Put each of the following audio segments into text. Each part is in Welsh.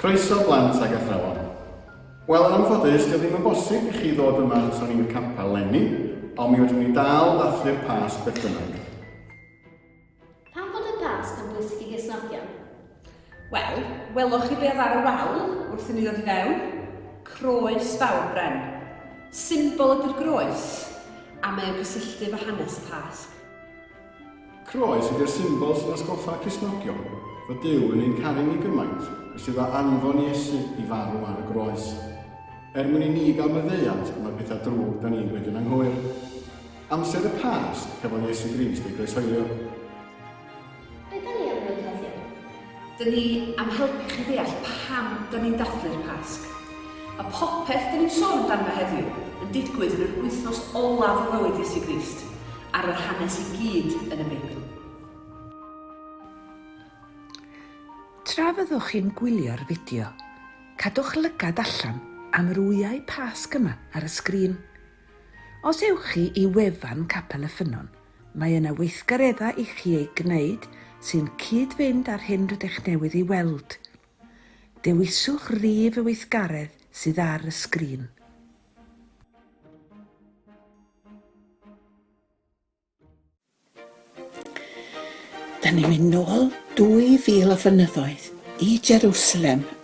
Croeso blant ag athrawon. Wel yn anffodus dyw ddim yn bosib i chi ddod yma ato ni i'r capel lenni, ond mi fedrwn ni dal dathlu'r Pasg beth bynnag. Pam fod y Pasg yn bwysig i Gristnogion? Wel, weloch chi be oedd ar y wal wrth i ni ddod i fewn? Croes fawr bren. Symbol ydy'r groes, a mae o'n cysylltu efo hanes y Pasg. Croes ydy'r symbol sy'n atgoffa Cristnogion fod Duw yn ein caru ni gymaint y sydd â anfon Iesu i farw ar y groes, er mwyn i ni gael maddeuant am y pethau drwg da ni'n dweud yn anghywir. Amser y Pasg, cafodd Iesu Grist ei groeshoelio. Be da ni am wneud heddiw? Dyn ni am helpu chi ddeall pam dyn ni'n dathlu'r Pasg. Mae popeth dyn ni'n sôn amdano heddiw yn digwydd yn yr wythnos olaf o fywyd Iesu Grist, ar yr hanes i gyd yn y Beibl. Tra fyddwch chi'n gwylio'r fideo, cadwch lygad allan am yr wyau Pasg yma ar y sgrin. Os ewch chi i wefan Capel y Ffynnon Mae yna weithgareddau i chi eu gwneud sy'n cyd-fynd â'r hyn rydych newydd ei weld. Dewiswch rif y weithgaredd sydd ar y sgrin. Dan ni'n mynd nôl 2,000 o flynyddoedd, i Jerusalem,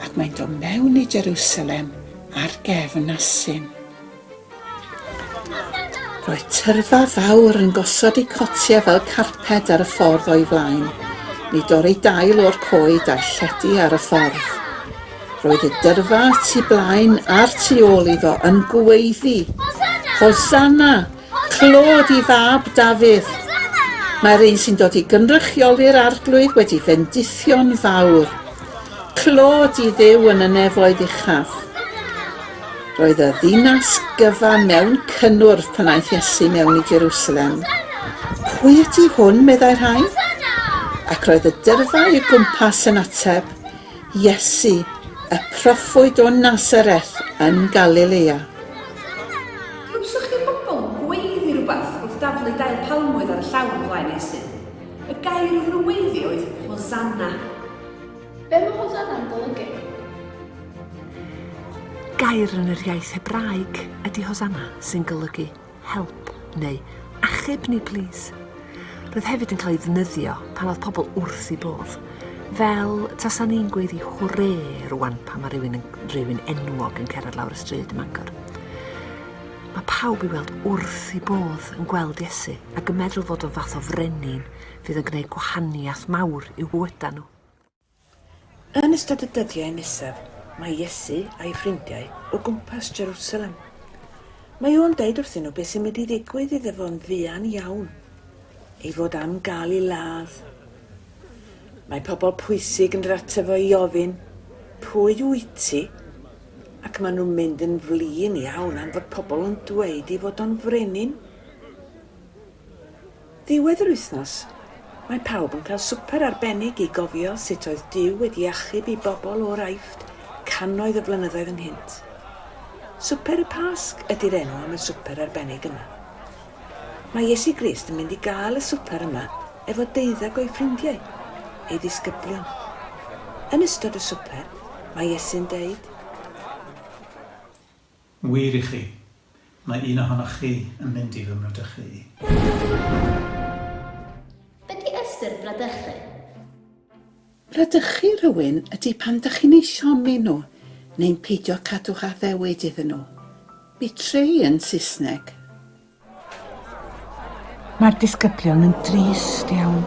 Ac mae'n dod mewn i Jerusalem ar gefn asyn. Roedd tyrfa fawr yn gosod eu cotiau fel carped ar y ffordd o'i flaen. Ni dorri dail o'r coed a'i lledu ar y ffordd. Roedd y dyrfa tu blaen a'r tu ôl iddo yn gweiddi, Hosanna! Clod i fab Dafydd! Mae'r un sy'n dod i gynrychioli'r Arglwydd wedi fendithio'n fawr. Clod i Dduw yn y nefoedd uchaf! Roedd y ddinas gyfan mewn cynnwrf pan aeth Iesu mewn i Jerusalem. Pwy ydy hwn, meddai rhai? Ac roedd y dyrfa o'i gwmpas yn ateb, Iesu, y proffwyd o Nazareth yn Galilea. Glywsoch chi'r bobl yn gweiddi rhywbeth wrth daflu dail palmwydd ar y llawr o flaen Iesu? Y gair oedden nhw'n weiddi oedd Hosanna. Be mae Hosanna yn golygu? Gair yn yr iaith Hebraeg ydy Hosanna, sy'n golygu Help neu achub ni plîs. Roedd hefyd yn cael ei ddefnyddio pan oedd pobl wrth ei bodd. Fel tasa ni'n gweiddi hwrê rwan pan mae rhywun, yn, rhywun enwog yn cerdded lawr y stryd ym Mangor. Mae pawb i weld wrth ei bodd yn gweld Iesu ac yn meddwl fod o'n fath o frenin fydd yn gwneud gwahaniaeth mawr i'w bywydau nhw. Yn ystod y dyddiau nesaf, mae Iesu a'i ffrindiau o gwmpas Jerwsalem. Mae o'n deud wrthyn nhw beth sy'n mynd i ddigwydd iddo fo'n fuan iawn, ei fod am gael ei ladd. Mae pobl pwysig yn dod ato fo i ofyn, Pwy wyt ti? Ac maen nhw'n mynd yn flin iawn am fod pobl yn dweud ei fod o'n frenin. Ddiwedd yr wythnos, mae pawb yn cael swper arbennig i gofio sut oedd Duw wedi achub i bobl o'r Aifft cannoedd o flynyddoedd ynghynt. Swper y Pasg ydi'r enw am y swper arbennig yma. Mae Iesu Grist yn mynd i gael y swper yma efo deuddeg o'i ffrindiau, ei ddisgyblion. Yn ystod y swper, mae Iesu'n deud, Wir i chi, mae un ohonoch chi yn mynd i fy mradychu i. Be di ystyr bradychu? Bradychu rhywun ydi pan dach chi'n eu siomi nhw neu'n peidio cadw'ch addewid iddyn nhw. Betray yn Saesneg. Mae'r disgyblion yn drist iawn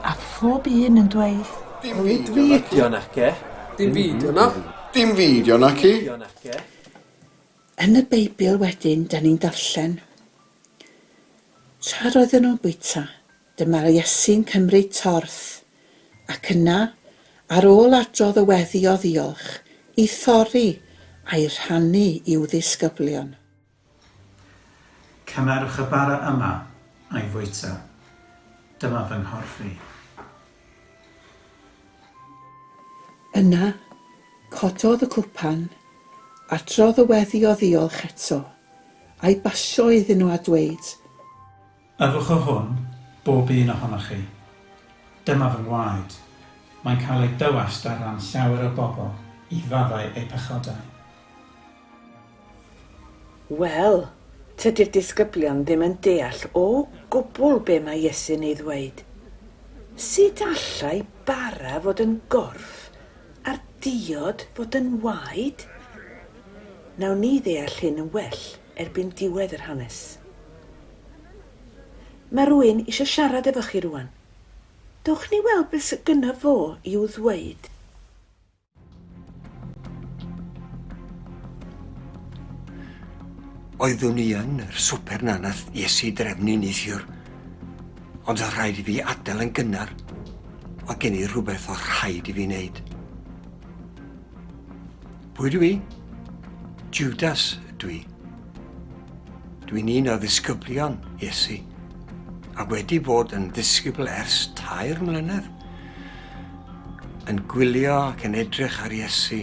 a phob un yn dweud, Dim fideo naci. Dim fideo na. Dim fideo naci. Yn y Beibl wedyn dan ni'n darllen, Tra roedden nhw'n bwyta, dyma Iesu'n cymryd torth, ac yna, ar ôl adrodd y weddi o ddiolch, i thorri a'i rhannu i'w ddisgyblion. Cymerwch y bara yma a'i fwyta. Dyma fy nghorff i. Yna, cododd y cwpan, a trodd y weddi o ddiolch eto, a'i basio iddyn nhw a dweud, Yfwch o hwn, bob un ohonoch chi. Dyma fy ngwaed. Mae'n cael ei dywallt ar ran llawer o bobl i faddau eu pechodau. Wel, tydi'r disgyblion ddim yn deall o gwbl be mae Iesu'n ei ddweud. Sut allai bara fod yn gorff a'r diod fod yn waed? Wnawn ni ddeall hyn yn well erbyn diwedd yr hanes. Mae rwy'n eisiau siarad efo chi rwan. Dewch ni weld beth sydd gynno fo i'w ddweud. Oeddwn i yn yr swper na nath Iesu drefnu neithiwr. Ond oedd rhaid i fi adael yn gynnar. Oedd gen i rhywbeth oedd rhaid i fi wneud. Pwy dwi? Judas dwi. Dwi'n un o ddisgyblion Iesu a wedi bod yn ddisgybl ers tair mlynedd. Yn gwylio ac yn edrych ar Iesu,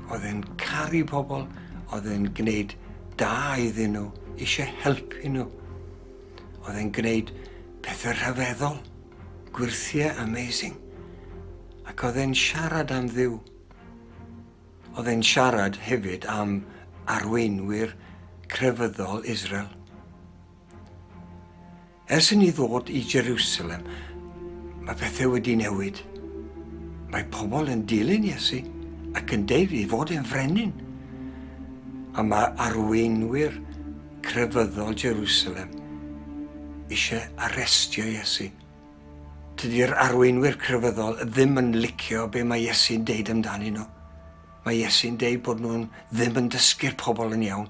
oedd e'n caru pobl, oedd e'n gwneud da iddyn nhw, eisiau helpu nhw. Oedd e'n gwneud pethau rhyfeddol. Gwyrthie amazing. Ac oedd e'n siarad am Dduw. Oedd e'n siarad hefyd am arweinwyr crefyddol Israel. Ers i ni ddod i Jerusalem, mae pethau wedi newid. Mae pobl yn dilyn Iesu ac yn deud i fod e'n frenin. A mae arweinwyr crefyddol Jerusalem eisiau arestio Iesu. Tydi'r arweinwyr crefyddol ddim yn licio be mae Iesu'n deud amdanyn nhw. Mae Iesu'n deud bod nhw'n ddim yn dysgu'r pobl yn iawn.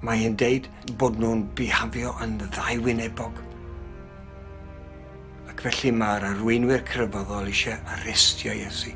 Mae e'n deud bod nhw'n bihafio yn ddaiwynebog. Ac felly mae'r arweinwyr crefyddol eisiau arestio Iesu.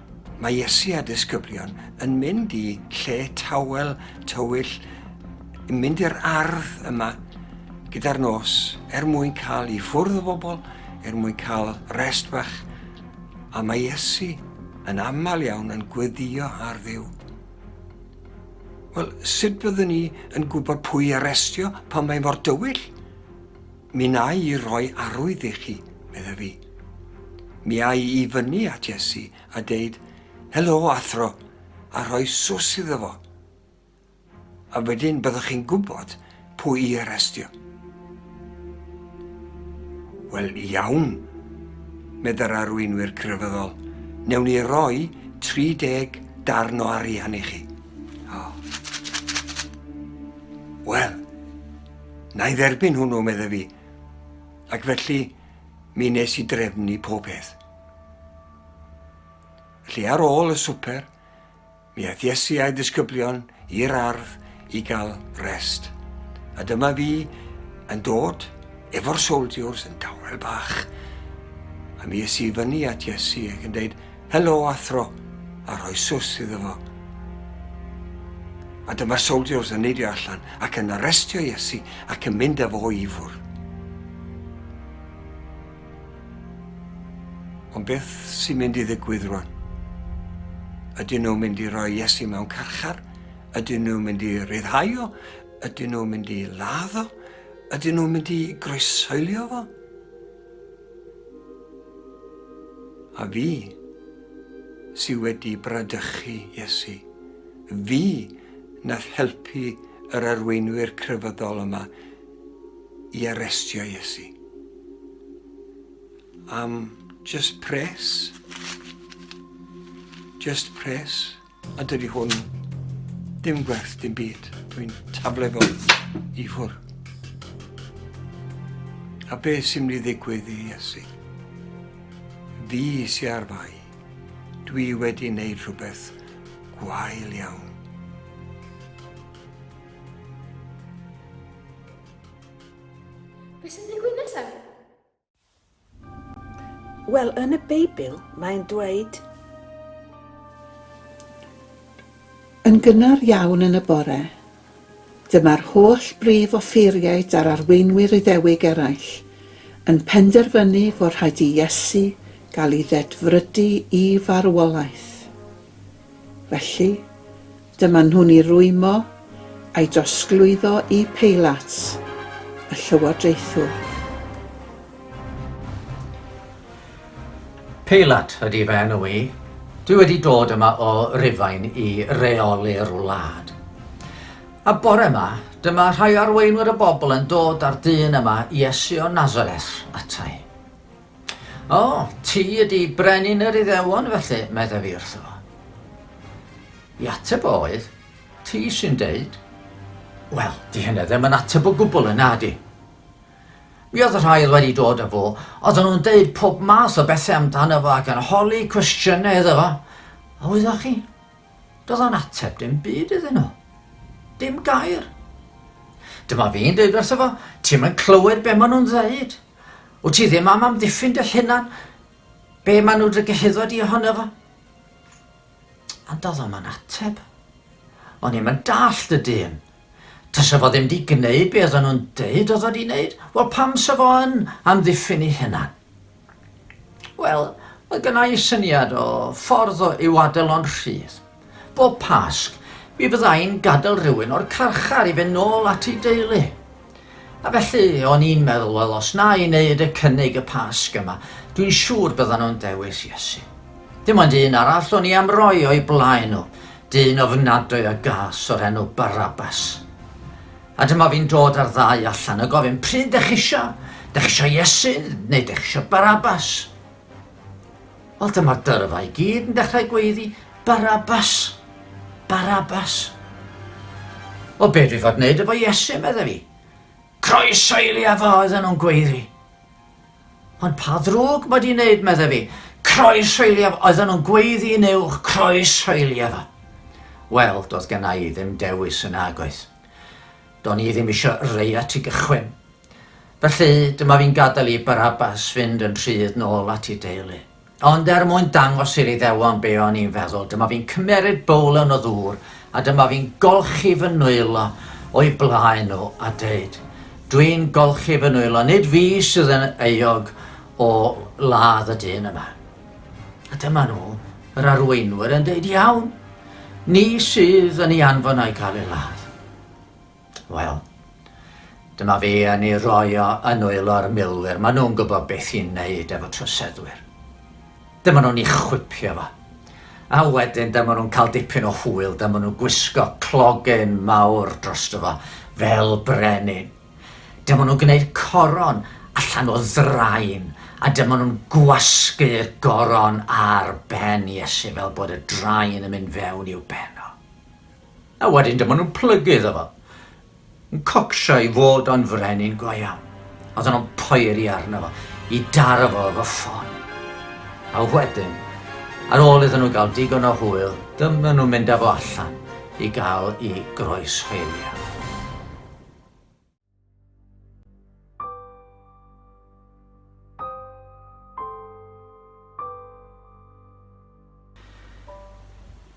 Mae Iesu a'r disgyblion yn mynd i lle tawel, tywyll, yn mynd i'r ardd yma gyda'r nos er mwyn cael i ffwrdd o bobl, er mwyn cael rest fach, a mae Iesu yn aml iawn yn gweddio ar ddiw. Wel, sut byddwn ni yn gwybod pwy arestio pan mae mor dywyll? Mi wnai i roi arwydd i chi, medda fi. Mi ai i fyny at Iesu a deud, Helo, athro, a rhoi swss iddo fo. A wedyn byddwch chi'n gwybod pwy i arestio. Wel, iawn, medda'r arweinwyr crefyddol, newn ni roi 30 darn o arian i chi. Oh. Wel, Na i dderbyn hwnnw, medda fi. Ac felly, mi nes i drefnu pob peth. Felly ar ôl y swper, mi aeth Iesu a'i ddisgyblion i'r ardd i gael rest. A dyma fi yn dod efo'r soldiers yn dawel bach. A mi es i fyny at Iesu ac yn dweud, Helo athro, a rhoi swss iddo fo. A dyma'r soldiers yn neidio allan ac yn arrestio Iesu ac yn mynd â fo i fwrdd. Ond beth sy'n mynd i ddigwydd rwan? Ydyn nhw'n mynd i roi Iesu mewn carchar? Ydyn nhw'n mynd i ryddhau o? Ydyn nhw'n mynd i ladd o? Ydyn nhw'n mynd i groesoelio fo? A fi sy wedi bradychu Iesu. Fi nath helpu yr arweinwyr crefyddol yma i arestio Iesu. Am just pres? Just pres? A dydy hwn dim gwerth dim byd. Dwi'n tafle fo i ffwr. A be sy'n mynd i ddigwydd i Iesu? Fi sy'n ar fai. Dwi wedi wneud rhywbeth gwael iawn. Beth sy'n digwydd nesaf? Wel, yn y Beibl, mae'n dweud. Yn gynnar iawn yn y bore, dyma'r holl brif offeiriaid a'r arweinwyr Iddewig eraill yn penderfynu fod rhaid i Iesu gael ei ddedfrydu i farwolaeth. Felly, Dyma nhw'n ei rwymo a'i drosglwyddo i Peilat, y llywodraethwr. Peilat ydy fy enw i. Dwi wedi dod yma o Rufain i reoli'r wlad. A bore yma, dyma rhai arweinwyr y bobl yn dod â'r dyn yma, Iesu o Nazareth, ata i. O, ti ydi brenin yr Iddewon, felly, meddaf i wrtho. I ateb oedd, ti sy'n deud, Wel, di hynna ddim yn ateb o gwbl yna, di. Mi oedd y rhai oedd wedi dod â fo, oedden nhw'n deud pob math o bethau amdano fo ac yn holi cwestiynau iddo fo. A wyddoch chi, doedd o'n ateb dim byd iddyn nhw. Dim gair. Dyma fi'n deud wrtho fo, ti'n mynd clywed be maen nhw'n ddeud. Wt ti ddim am amddiffyn dy lhunan? Be maen nhw dy gyhuddo di ohono fo? Ond oedd o'm yn ateb. O'n i'm yn dall dy dyn. Tasa fo ddim di gneud be oedden nhw'n deud oedd o di wneud, wel pam sa fo yn amddiffyn ei hunan? Wel, mae gynna i syniad o ffordd o i'w adael o'n rhydd. Bob Pasg, mi fydda i'n gadael rhywun o'r carchar i fynd nôl at ei deulu. A felly, o'n i'n meddwl, wel, os na i wneud y cynnig y Pasg yma, dwi'n siŵr byddan nhw'n dewis Iesu. Dim ond un arall o'n i am roi o'i blaen nhw, dyn ofnadwy a gas o'r enw Barabas. A dyma fi'n dod â'r ddau allan a gofyn, pryd dech isio? Dech isio Iesu neu dech isio Barabas? Wel, dyma'r dyrfa i gyd yn dechrau gweiddi, Barabas! Barabas! O, be dwi fod wneud efo Iesu, medda fi. Croeso i li afo, oedden nhw'n gweiddi. Ond pa ddrwg mae di wneud, medda fi. Croeso i li afo, oedden nhw'n gweiddi yn uwch, croeso i li afo. Wel, doedd gen i ddim dewis yn agoedd. Do'n i ddim eisiau rei at i gychwyn. Felly, dyma fi'n gadael i Barabas fynd yn rhydd nôl at ei deulu. Ond er mwyn dangos i'r Iddewon be o'n i'n feddwl, dyma fi'n cymeryd bowlen o ddŵr a dyma fi'n golchi fy nwylo o'i blaen nhw a deud, Dwi'n golchi fy nwylo, nid fi sydd yn euog o ladd y dyn yma. A dyma nhw, yr arweinwyr, yn deud, Iawn, ni sydd yn ei anfon a'i cael ei ladd. Wel, dyma fi yn ei roi o yn nwylo'r milwyr. Maen nhw'n gwybod beth i'n neud efo troseddwyr. Dyma nhw'n ei chwipio fo. A wedyn dyma nhw'n cael dipyn o hwyl, dyma nhw'n gwisgo clogyn mawr dros fo, fel brenin. Dyma nhw'n gwneud coron allan o ddrain, a dyma nhw'n gwasgu'r goron ar ben Iesu fel bod y drain yn mynd fewn i'w ben o. A wedyn dyma nhw'n plygu iddo fo. Yn cocsio i fod o'n frenin go iawn. Oedden nhw'n poeri arno fo, i daro fo efo ffon. A wedyn, ar ôl iddyn nhw gael digon o hwyl, dyma nhw'n mynd â fo allan i gael i groeshoelio.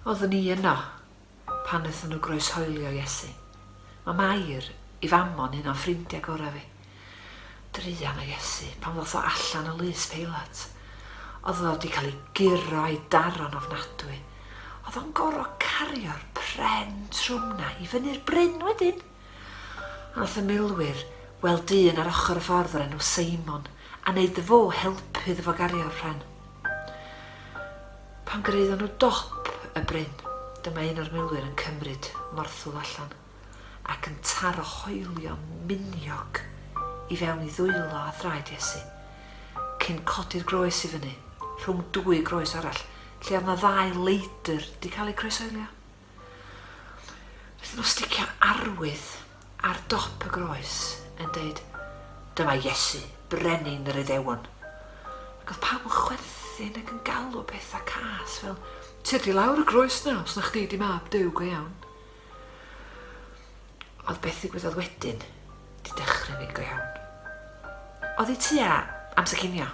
Oeddwn i yno pan wnaethon nhw groeshoelio Iesu. Mae Mair, ei famon, un o'n ffrindiau gorau fi. Druan o Iesu pan ddoth o allan o lys Peilat. Oedd o wedi cael ei guro a'i daro'n ofnadwy. Oedd o'n gorfod cario'r pren trwm 'na i fyny'r bryn wedyn. Aeth y milwyr, weld dyn ar ochr y ffordd o'r enw Seimon, a wneud iddo fo, helpu iddo fo gario'r pren. Pan gyraeddon nhw dop y bryn, dyma un o'r milwyr yn cymryd morthwl allan, ac yn taro hoelio miniog i fewn i ddwylo a thraed Iesu, cyn codi'r groes i fyny, rhwng dwy groes arall, lle oedd na ddau leidr 'di cael eu croesoelio. Wrth nhw sticio'r arwydd ar dop y groes yn deud, Dyma Iesu, Brenin yr Iddewon. Ac oedd pawb yn chwerthin ac yn galw pethau cas fel, Tyd i lawr y groes na, os na chdi di mab Duw go iawn. Oedd beth ddigwyddodd wedyn di dechrau mynd go iawn. Oedd i tua amser cinio.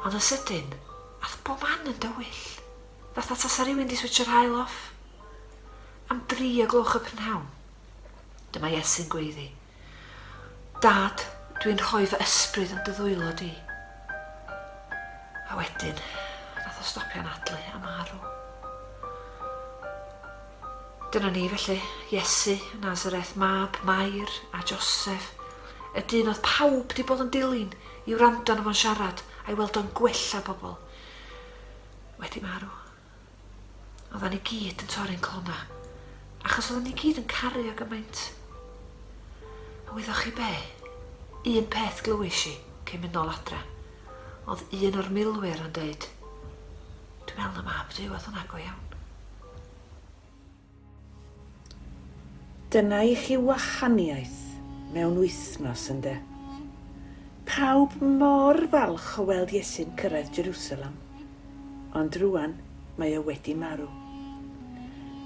Ond yn sydyn, ath bob man yn dywyll. Fatha tasa rhywun 'di switsio haul off. Am dri o gloch y prynhawn, dyma Iesu'n gweiddi, Dad, dwi'n rhoi fy ysbryd yn dy ddwylo di. A wedyn, nath o stopio'n adlu a marw. Dyna ni felly, Iesu, Nazareth, mab Mair a Joseph, y dyn oedd pawb di bod yn dilyn i wrando na fo'n siarad a'i weld o'n gwella pobl. wedi marw. Oddan ni gyd yn torri'n clona, achos oddan ni gyd yn caru o gymaint. A wyddoch chi be? Un peth glywis i cyn mynd nôl adra, oedd un o'r milwyr yn deud, Dwi'n meddwl na mab Duw oedd hwnna go iawn. Dyna i chi wahaniaeth mewn wythnos, ynde? Pawb mor falch o weld Iesu'n cyrraedd Jerusalem, ond rŵan mae o wedi marw.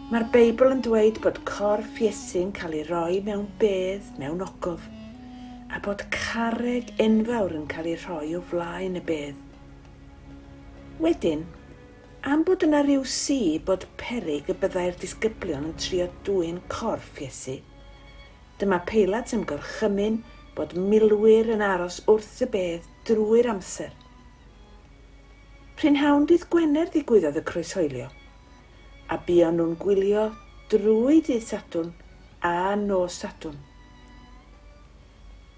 Mae'r Beibl yn dweud bod corff Iesu'n cael ei roi mewn bedd, mewn ogof, a bod carreg enfawr yn cael ei rhoi o flaen y bedd. Wedyn, Am bod yna ryw si bod peryg y byddai'r disgyblion yn trio dwyn corff Iesu. Dyma Peilat yn gorchymyn bod milwyr yn aros wrth y bedd drwy'r amser. Prynhawn dydd Gwener ddigwyddodd y croeshoelio, a buon nhw'n gwylio drwy dydd Sadwrn a nos Sadwrn.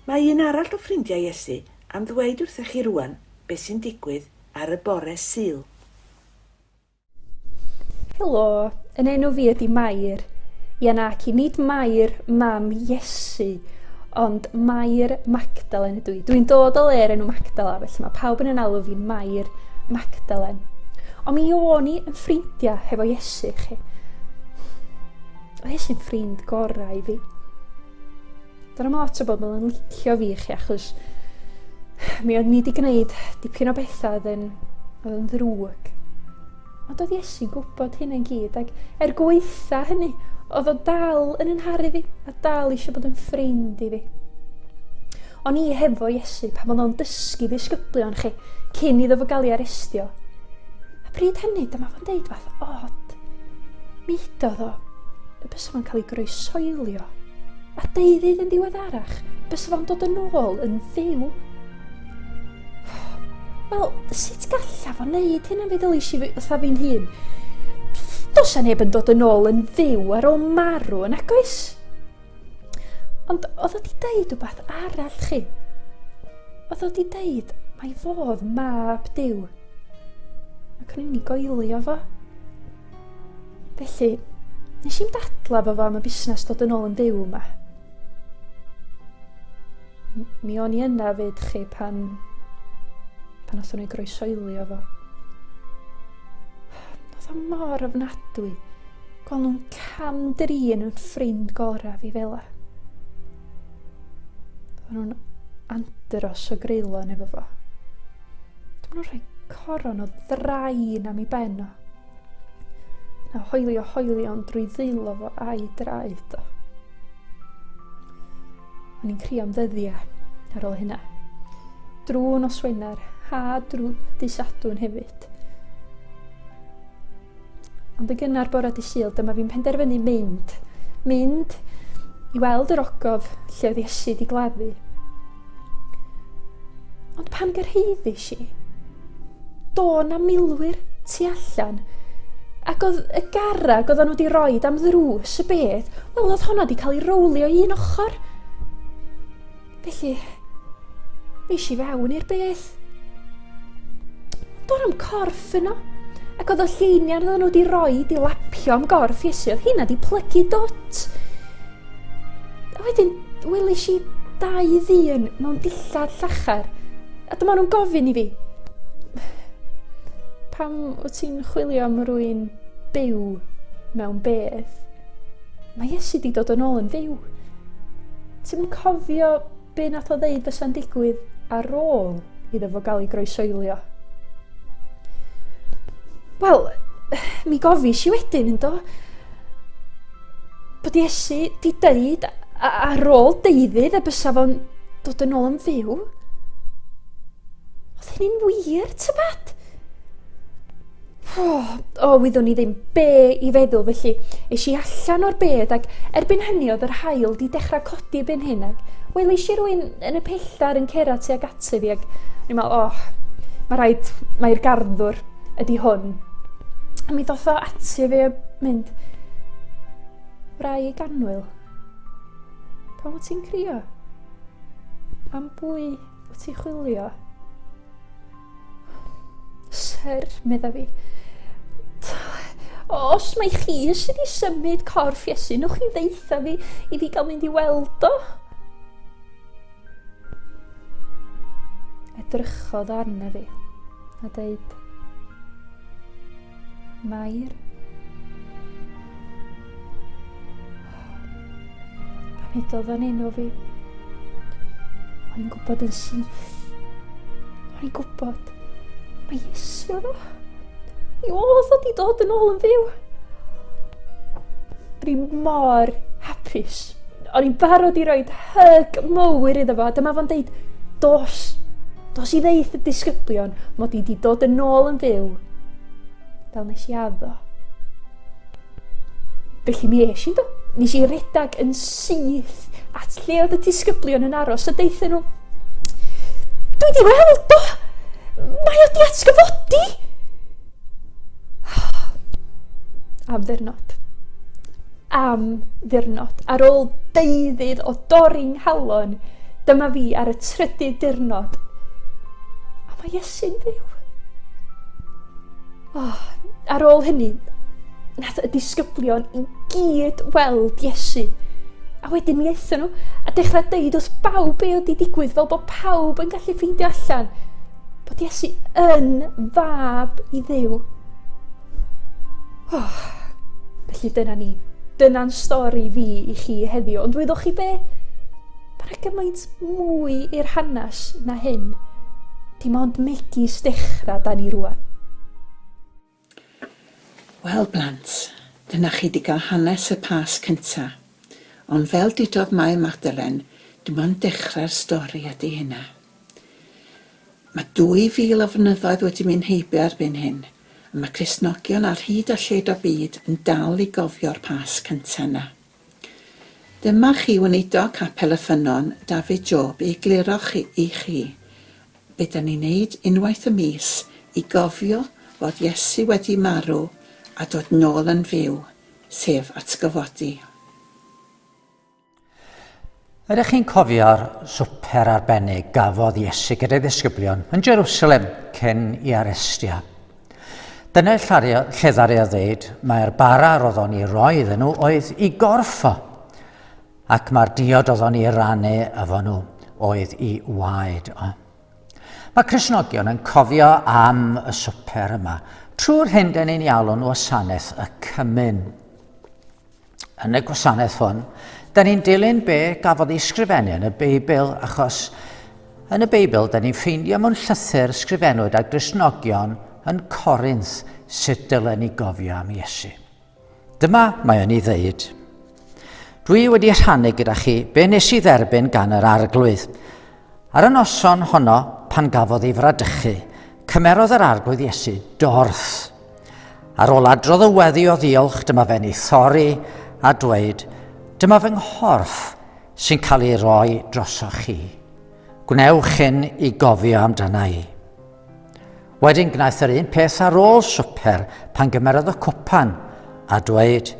Mae un arall o ffrindiau Iesu am ddweud wrthych chi rŵan beth sy'n digwydd ar y bore Sul. Helo, yn enw fi ydi Mair. Ia nac i, nid Mair, mam Iesu, ond Mair Magdalen ydw i. Dwi'n dod o le'r enw Magdala, felly mae pawb yn yn alw fi'n Mair Magdalen. Ond mi o'n i yn ffrindiau hefo Iesu, chi. Oedd Iesu'n ffrind gorau i fi. Dyna mae lot o bobl yn licio fi chi achos mi oedd ni wedi gwneud dipyn o bethau oedd yn, oedd yn ddrwg. Ond oedd Iesu'n gwybod hyn yn gyd ac er gweitha hynny, oedd o dal yn ynharu fi a dal eisiau bod yn ffrind i fi. O'n i hefo Iesu pan oedd o'n dysgu ddisgyblion chi cyn iddo fo gael ei arestio. A pryd hynny, dyma fo'n deud fath od. Mi hidodd o Mae'n cael ei groesoelio. A deuddydd yn ddiweddarach, bys fo'n dod yn ôl yn fyw. Wel, sut galla fo wneud hyn am fi ddylais i fatha fi'n hun? Dos a neb yn dod yn ôl yn fyw ar ôl marw yn agos. Ond oedd o di deud rhywbeth arall chi? Oedd o di deud mae fodd mab diw. Ac o'n i'n ei goelio fo. Felly, nes i'n dadla fo fo am y busnes dod yn ôl yn byw yma. Mi o'n i yna fyd chi pan... pan othon ni groesoeli o fo. Oedd o mor ofnadwy. Gweld nhw'n cam drin yn ffrind gorau fi fela. Oedd nhw'n andros o greulon efo fo. Dwi'n nhw'n rhoi coron o ddrain am i ben o. A hoelio hoelion drwy ddeilo fo a'i draed o. O'n i'n crio am ddyddiau ar ôl hynna. Drwy nos Wener, ha drwy disadwn hefyd. Ond y gynnar bore di syl, dyma fi'n penderfynu mynd. Mynd i weld yr ogof lle oedd Iesu di gladdu. Ond pan gyrhaeddis i, do na milwyr tu allan Ac oedd y garreg oedden nhw wedi rhoi am ddrws y bedd, wel oedd honna wedi cael ei rowlio i un ochr. Felly, nes i fewn i'r bedd. Do'n am corff yno, ac oedd y lleiniau oedden nhw wedi rhoi i lapio am gorff Iesu, oedd hynna wedi plygu dwt. A wedyn, welis i dau ddyn mewn dillad llachar, a dyma nhw'n gofyn i fi, pam wyt ti'n chwilio am rwy'n byw mewn bedd? Mae Iesu wedi dod yn ôl yn fyw. Ti'n cofio Be nath o ddeud fysa'n digwydd ar ôl iddo fo gael ei groesoelio? Wel, mi gofis i wedyn, ynddo? Bod Iesu di deud ar ôl deuddydd y bysa fo'n dod yn ôl yn fyw. Oedd hynny'n wir, tybed? Oh, o, oh, wyddwn i ddim be i feddwl, felly es i allan o'r bed ac erbyn hynny oedd yr hael di dechrau codi byn hyn ac wel eisiau rwy'n yn y pelltar yn cera tuag ataf fi ac ni'n meddwl, oh, mae rhaid, mae'r garddwr ydy hwn. A mi ddoth o ati fi a mynd, rai ganwyl, pan wyt ti'n crio? Am bwy wyt ti'n chwilio? Sir, medda fi. Os mae chi eisiau di symud corff Iesu, nwch chi ddeitha fi i fi gael mynd i weld o. Edrychodd arna fi a dweud, Mair. Pan edodd fan hyn o fi, o'n i'n gwybod yn syth. O'n i'n gwybod. Mae Iesu yno. Mi oedd o di dod yn ôl yn fyw. Dwi'n mor hapus. o'n i'n barod i roed hyg mowr iddo fo. Dyma fo'n deud, dos, dos i ddeith y disgyblion mod i wedi dod yn ôl yn fyw. Fel nes i addo. Felly mi eis i do. Nes i redag yn syth at lle oedd y disgyblion yn aros a deithio nhw. Dwi di weld do! Mae o di atgyfodi! Am ddirnod. Am ddirnod. Ar ôl deuddydd o dorri nghalon, dyma fi ar y trydydd dirnod. A mae Iesu'n fyw. Oh, ar ôl hynny, nath y disgyblion i gyd weld Iesu. A wedyn mi aethon nhw a dechrau deud wrth bawb be oedd wedi digwydd fel bod pawb yn gallu ffeindio allan. Bod Iesu yn fab i ddew. Oh, felly dyna ni. Dyna'n stori fi i chi heddiw. Ond wyddoch chi be? Mae yna gymaint mwy i'r hanes na hyn. Dim ond megis dechrau da ni rwan. Wel blant, dyna chi 'di gael hanes y Pasg cynta. Ond fel dudodd Mair Magdalen, dim ond dechrau'r stori ydy hynna. Mae 2000 o flynyddoedd wedi mynd heibio erbyn hyn, a mae Cristnogion ar hyd a lled o'r byd yn dal i gofio'r Pasg cynta 'na. Dyma chi Weinidog Capel y Ffynnon, David Job, i egluro chi, i chi, be dan ni'n neud unwaith y mis i gofio fod Iesu wedi marw a dod nôl yn fyw, sef atgyfodi. Ydych chi'n cofio'r swper arbennig gafodd Iesu gyda'i ddisgyblion yn Jerusalem cyn i arestio? Dyna lle ddaru o ddeud mae'r bara roedd o'n i roi iddyn nhw oedd i gorffo, ac mae'r diod oedd o'n i rannu efo nhw oedd i waed o. Mae Cresnogion yn cofio am y swper yma, trwy'r hyn dyn ni'n ialw nhw wasanaeth y cymun. yn y gwasanaeth hwn, da ni'n dilyn be gafodd ei sgrifennu yn y Beibl, achos yn y Beibl da ni'n ffeindio mewn llythyr sgrifennwyd a grisnogion yn Corinth sut dylen ni gofio am Iesu. Dyma mae o'n ei ddeud. Dwi wedi rhannu gyda chi be nes i dderbyn gan yr arglwydd. Ar y noson honno, pan gafodd ei fradychu, cymerodd yr arglwydd Iesu dorth Ar ôl adrodd y weddi o ddiolch, dyma fe'n ei thorri a dweud, dyma fy nghorff sy'n cael ei roi drosoch chi. Gwnewch hyn i gofio amdana i. Wedyn gwnaeth yr un peth ar ôl swper pan gymerodd y cwpan a dweud,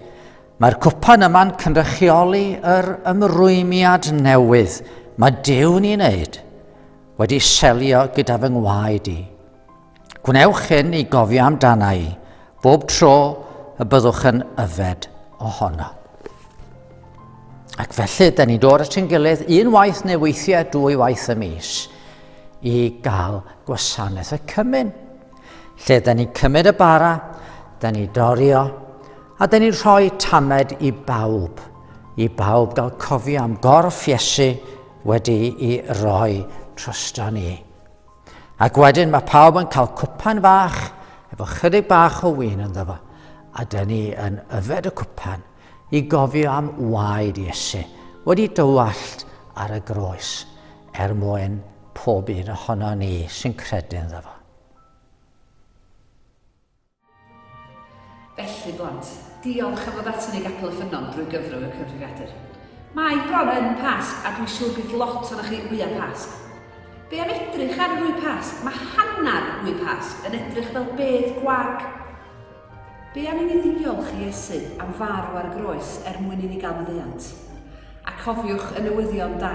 mae'r cwpan yma'n cynrychioli yr ymrwymiad newydd mae Dew'n ei wneud, wedi selio gyda fy ngwaed i. Gwnewch hyn i gofio amdana i bob tro y byddwch yn yfed ohono. Ac felly, da ni'n dod at ein gilydd unwaith neu weithiau dwy waith y mis i gael gwasanaeth y cymyn. Lle da ni'n cymryd y bara, da ni'n dorio, a da ni'n rhoi tamed i bawb, i bawb gael cofio am gorff Iesu wedi i roi trosto ni. Ac wedyn mae pawb yn cael cwpan fach efo chydig bach o win ynddo fo. A dyn ni yn yfed y cwpan i gofio am waed Iesu wedi dywallt ar y groes er mwyn pob un ohono ni sy'n credu ynddo fo. Felly, blant, diolch am ddod ato ni i Gapel y Ffynnon drwy gyfrwng y cyfrifiadur. Mae bron yn Pasg a dwi'n siŵr bydd lot ohonoch chi wyau Pasg. Be am edrych ar wy Pasg? Mae hanner wy Pasg yn edrych fel bedd gwag. Be am i ni ddiolch i Iesu am farw ar y groes er mwyn i ni gael maddeuant? A cofiwch y newyddion da,